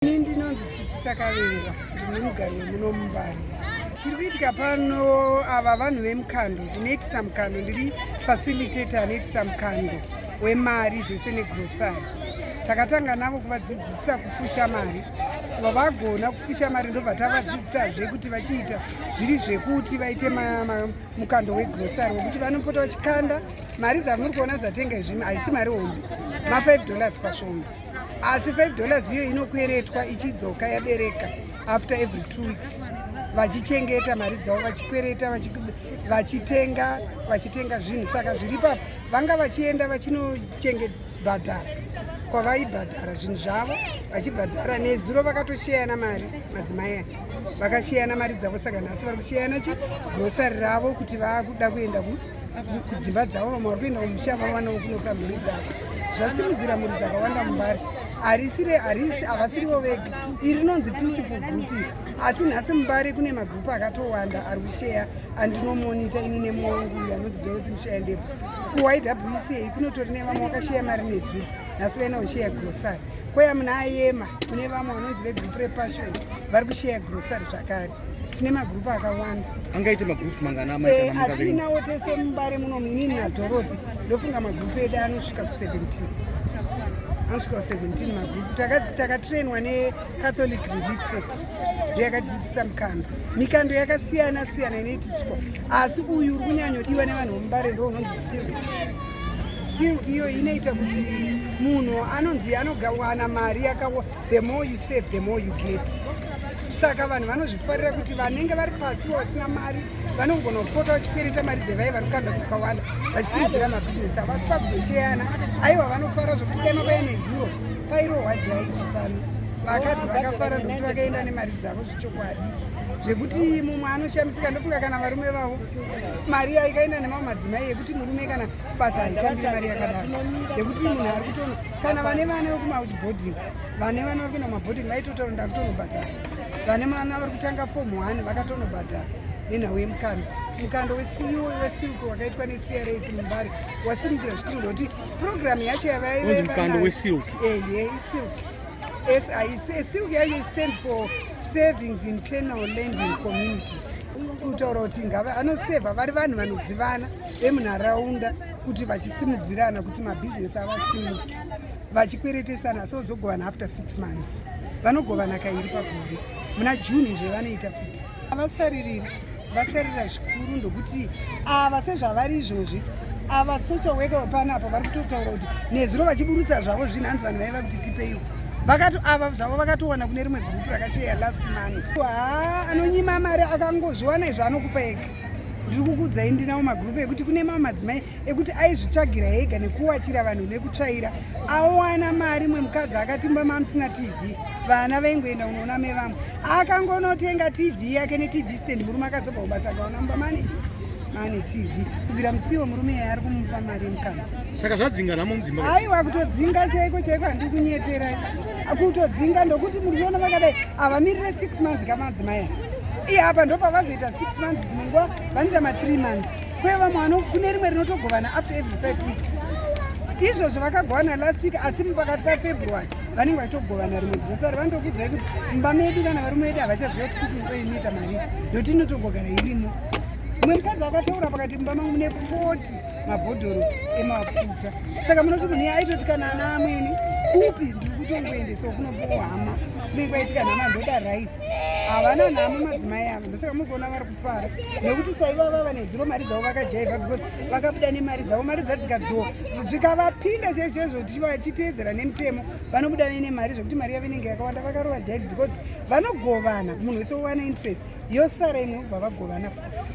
Ini ndinonzi Tsitsi Takaverwa ndine mugari wemuno mumbari. Chiri kuitika pano ava vanhu vemukando ndinoitisa mukando ndiri facilitator anoitisa mukando wemari zvese negrosari. Takatanga navo kuvadzidzisa kufusha mari vavagona kufusha mari ndobva tavadzidzisazve kuti vachiita zviri zvekuti vaite mukando wegrosari wekuti vanopota vachikanda mari dzamuri kuona dzatenga izvimi haisi mari hombe ma5 dollars pashoma asi 5 dollars iyo inokweretwa ichidzoka yabereka after every two weeks vachichengeta mari dzavo vachikwereta vachitenga vachitenga zvinhu saka zviri papo vanga vachienda vachinochengebhadhara kwavaibhadhara zvinhu zvavo vachibhadhara nezuro vakatosheyana mari madzimai aya vakasheyana mari dzavo saka nhasi vari kusheyana chi grosari ravo kuti vakuda kuenda ku kudzimba dzavo vamwe vari kuenda kumusha vavanawo kunoka mhuri dzavo zvasimudzira mhuri dzakawanda mumbari harisire harisi havasirivo vega iri rinonzi peaceful group iri asi nhasi mumbari kune magrupu akatowanda ari kusheya andinomonita ini nemwangu uyo anonzi doroti musheya ndebvu kuwca kunotori nevamwe wakasheya mari nezuru nhasi vaina kusheya grocery kweya muna ayema kune vamwe vanonzi vegrupu repassion vari kusheya grocery zvakare tine magrupu akawanda angaite magrupu mangana eh, atinawo tese mubare muno muinini nadhoroti ndofunga magrupu edu anosvika ku17 anosvika ku17 magrupu takatrainwa necatholic relief services ndo yakatidzidzisa mikando mikando yakasiyana siyana inoitiswa asi uyu uri kunyanyodiwa nevanhu vomubare ndo unonzi silk silk iyo inoita kuti munhu anonzi anogawana mari yakawa the more you save the more you get saka vanhu vanozvifarira kuti vanenge vari pasi vasina mari vanogona kupota vachikwereta mari dzevai vari kukanda dzakawanda vachisimudzira mabhizinesi avo asi pakuzocheyana aiwa vanofara zvokuti dai mavaya nezuro pairohwa jaiki pano vakadzi vakafara ndokuti vakaenda nemari dzavo zvechokwadi zvekuti mumwe anoshamisika ndofunga kana varume vavo mari yaikaenda nemamwe madzimai yekuti murume kana basa haitambire mari yakadaro yekuti munhu ari kutoona kana vane vana vekumabhoding vane vana vari kuenda kumabhoding vaitotaura ndakutonobhadhara vane vana vari kutanga fom one vakatonobhadhara nenhau yemukando mukando weceo wesilco wakaitwa necrs mumbari wasimukira zvikuru ndokuti purogiramu yacho yavaiveesilco silco yacho istand for savings internal landing communities kutaura kuti ngava anoseva vari vanhu vanozivana vemunharaunda kuti vachisimudzirana kuti mabhizinesi avasimuke vachikweretesana so zogovana after six months vanogovana kairi pagore muna june izvo vanoita futi avasaririri vasarira zvikuru ndokuti ava sezvavari izvozvi ava social worker panapo vari kutotaura kuti nezuro vachiburutsa zvavo zvinhu hanzi vanhu vaiva kuti tipeiwo vakato ava zvavo vakatowana kune rimwe gurupu rakasheya last month haa anonyima mari akangozviwana izvo anokupa ega ndiri kukuudzai ndinawo magrupu ekuti kune mamwe madzimai ekuti aizvitsvagira ega nekuwachira vanhu nekutsvaira awana mari imwe mukadzi akatimba mamusina tv vana vaingoenda kunoona mevamwe akangonotenga tv yake netv stand murume akadzobva kubasa akaona mumba maneji ane tv kubvira musiwo murume yaye ari kumupa mari yemukana saka zvadzinga namo mudzimba aiwa kutodzinga chaiko chaiko handikunyepera kutodzinga ndokuti muriona vakadai havamirire six months kamadzimai iye apa ndopavazoita six months dzimwe nguva vanoita mathree months kwe vamwe vano kune rimwe rinotogovana after every five weeks izvozvo vakagovana last week asi mupakati pafebruary vanenge vachitogovana rimwe grosari vanotokudzai kuti mumba medu kana varume vedu havachaziva kuti cooking oil inoita mari ndoti inotogogara irimo mumwe mukadzi akataura pakati mumba mangu mune forty mabhodhoro emafuta saka munoti munhu iye aitoti kana ana amweni kupi ndiri kutongoendesa kunopiwo hama kunenge kwaitika nhama ndoda rice havana nhamo madzimai avo ndosaka mukuona vari kufara nekuti saiva vava nezuro mari dzavo vakajaivha because vakabuda nemari dzavo mari dzadzikadzoa zvikavapinda sezvezvo tichiteedzera nemutemo vanobuda vaine mari zvekuti mari yavo inenge yakawanda vakarova jaivi because vanogovana munhu wese wowana interest yosara imwe vavagovana futi